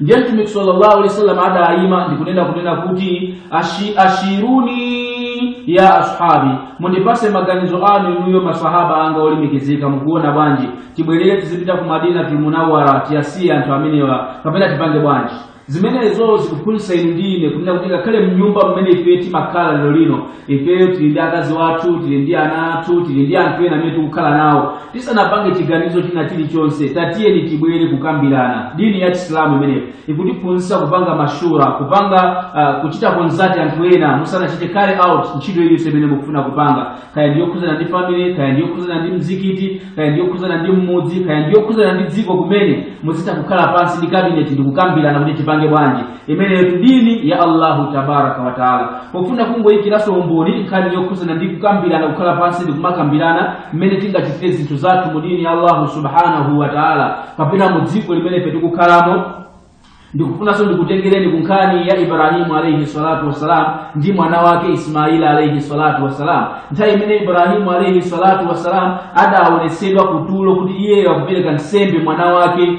ndiye mtumiki sallallahu alaihi wasallam adayima ndikunena kunena kuti ashi, ashiruni ya ashabi mundipase maganizo anu inuyo masahaba anga olemekezeka mukuona bwanji tibwerere tizipita ku madina tulmunawara tiyasiye anthu amenewa kapena tipange bwanji zimenezo zikuphunzitsa inu ndi ine kunena kuti ngakhale mnyumba mmene ife timakhala lero lino ifeyo tili ndi akazi wathu tili ndi ana athu tili ndi anthu ena amene tikukhala nawo tisanapange chiganizo china chilichonse tatiyeni tibwere kukambirana dini ya chisilamu imeneyo ikutiphunzitsa kupanga mashura kupanga uh, kuchita konzati anthu ena musanachite carry out ntchito iliyonse imene mukufuna kupanga kaya ndiyokhudzana ndi family kaya ndiyokhudzana ndi mzikiti kaya ndiyokhudzana ndi mmudzi kaya ndiyokhudzana ndi dziko kumene muzitha kukhala pansi ndi kabineti ndikukambirana kuti tipange bwanji imeneyo dini ya allahu tabaraka wataala pofuna kungoyikiraso umboni nkhani yokhuzana ndi kukambirana kukhala pansi ndi kumakambirana mmene tingachitire zinthu zathu mu dini ya allahu subhanahu wataala kapena mu dziko limene ife tikukhalamo ndikufunanso ndikutengereni ku nkhani ya ibrahimu alaihi salatu wassalam ndi mwana wake ismaila alaihi salatu wassalam nthawi imene ibrahimu alaihi salatu wassalam adaonetsedwa kutulo kuti iyeyo akupereka nsembe mwana wake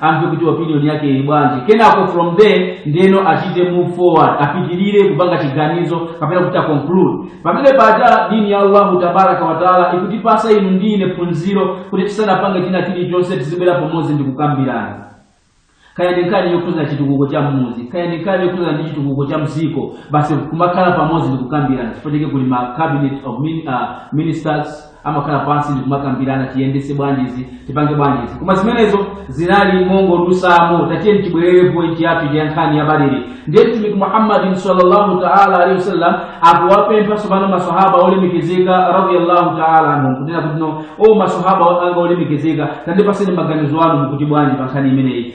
amve kuti opinion yake ili bwanji kenako from there ndeno achite move forward apitirire kupanga chiganizo kapena kuti aconclude pamene paja dini ya allahu tabaraka wataala ikutipasa inu ndi ine phunziro kuti tisanapange china chilichonse tizibwera pomodzi ndi kukambirana kaya ndi nkhani yokhuza chitukuko cha mmuzi kaya ndi nkhani yokhuzana ndi chitukuko cha mdziko basi kumakhala pamodzi ndi kukambirana chifukwa chake kuli ma cabinet of min, uh, ministers amakhala pansi ndikumakambirana tiyendese bwanjizi tipange bwanjizi koma zimenezo zinali mongodutsamo tatiyeni tibwerere pointi yathu ya nkhani ya badiri ndiye mtumiki muhammadin sallallahu taala alaihi wasallam akuwapempha tsopano masahaba olemekezeka radiallahu taala anhum kunena kuti no o masahaba anga olemekezeka tandipaseni maganizo anu mukuti bwanji pa nkhani imeneyi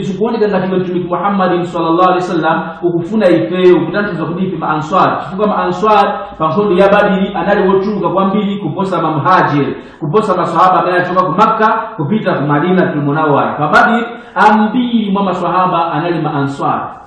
zikuoneka ngati iwe mtumiki muhammadin sallallahu alaihi wasallam ukufuna ifeyo kutanthauza kuti ife maanswar chifukwa maanswar pa nkhondo ya badiri anali wochuluka kwambiri kuposa mamhajiri kuposa maswahaba amene anachoka ku makka kupita ku madina tulmunawara pa badiri ambiri mwa maswahaba anali maanswar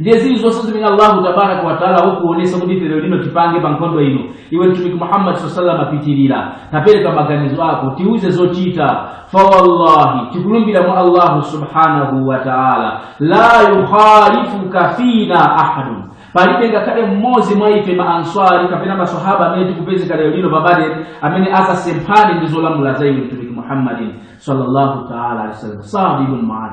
ndiye zilizonse zimene allahu tabaraka wataala wakuonesa kuti ife lero lino tipange pa nkhondo ino iwe mtumiki muhammadi saa salam apitirira tapereka maganizo ako tiuze zochita fawallahi tikulumbira mwa allahu subhanahu wa taala la yukhalifuka fina ahadun palibe ngakhale mmodzi mwa ife maanswari kapena masahaba amene tikupezeka lero lino pa badiri amene azasemphane ndi zolamula za iwe mtumiki muhammadin sallallahu taala alihi wasallam saad ibn muadh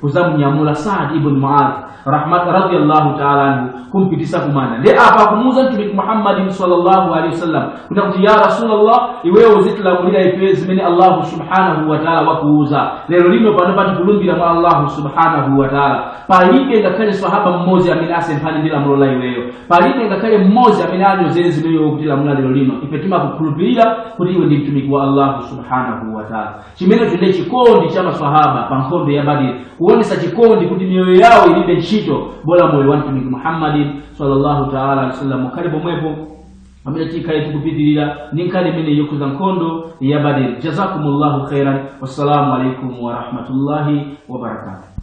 kuzamunyamula saad ibn muadh radiyallahu ta'ala anhu kumpitisa kumanda nde apa akumuuza mtumiki muhammadin sallallahu alaihi wasallam kuna kuti ya rasulullah iweyo uzitilamulira ife zimene allahu subhanahu wa ta'ala wakuuza lero lino pano tikulumbira mwa allahu subhanahu wa ta'ala palibe ngakhale sahaba mmodzi amene asemphane ndi lamulo la iweyo palibe ngakhale mmodzi amene anyozere zimene iwe ukutilamula lero lino ife timakukhulupirira kuti iwe ndi mtumiki wa allahu subhanahu wa ta'ala chimenecho ndiye chikondi cha maswahaba pa nkhondo ya badiri kuonesa chikondi kuti miyoyo yawo ilibe ntchito bola moyo wa mtumiki muhammadin sallallahu taala alaihi wasallam khalani pomwepo pamene tikhale tikupitirira ndi nkhani imeneyi yokhuza nkhondo ya badiri jazakumullahu khairan wassalamu alaikum warahmatullahi wabarakatuh